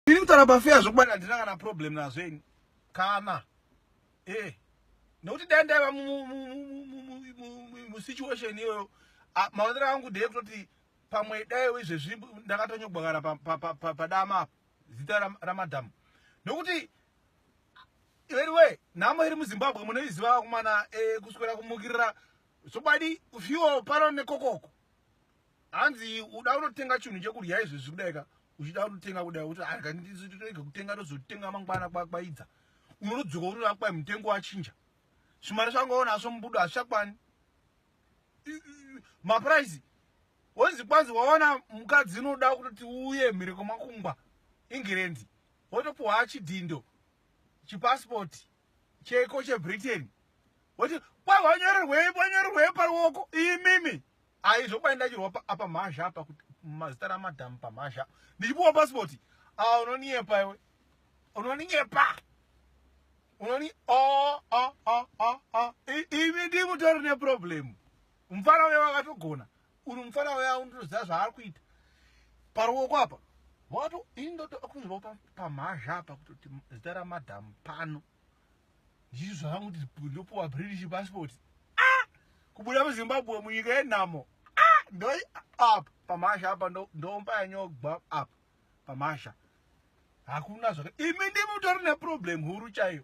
Ini kutaura pafeya zvokubata handina kana problem nazvo ini kana e nokuti dai ndaiva musituation iyoyo maonero angu ndeyekutoti pamwe daiwo izvezvi ndakatonyogwagara padama apa zita ramadhamu nokuti veriwe nhamo iri muzimbabwe munoiziva vakomana eh, kuswera kumukirira zvokubadi fio pano nekokoko hanzi uda unotenga chinhu chekudya izvezvi kudai ka uchida kutenga kudai kuti akandizotoege ah, kutenga tozotenga mangwana kwakwaidza unodzoka unoda kwai mutengo wachinja zvimari zvangaona asvo mubudo hazvichakwani mapuraisi wonzi kwanzi waona mukadzi unoda kuti uye mhireko makungwa ingirendi wotopuwa chidhindo chipasipoti cheko chebritain woti kwai wanyorerwei wanyorerwei paruoko imimi Ayi zvokuba ndachirwa apa mhazha apa kuti mazita ramadam pa mhazha ndichipuwa passport ah unoniepa iwe unoninyepa unoni oh oh oh oh oh imi ndimutori ne problem mfana uya wakatogona uri mfana uya unotoziva zvaari kuita paruoko apa wato indotokunzwa pamhazha apa kutoti zita ramadam pano ndichi zvangu ndopuwa british passport ah! kubuda muzimbabwe munyika yenhamo ah! ndoi up pamasha apa ndomba yanyogwa up pamasha hakuna zvaka imi ndimi utori neproblem huru chaiyo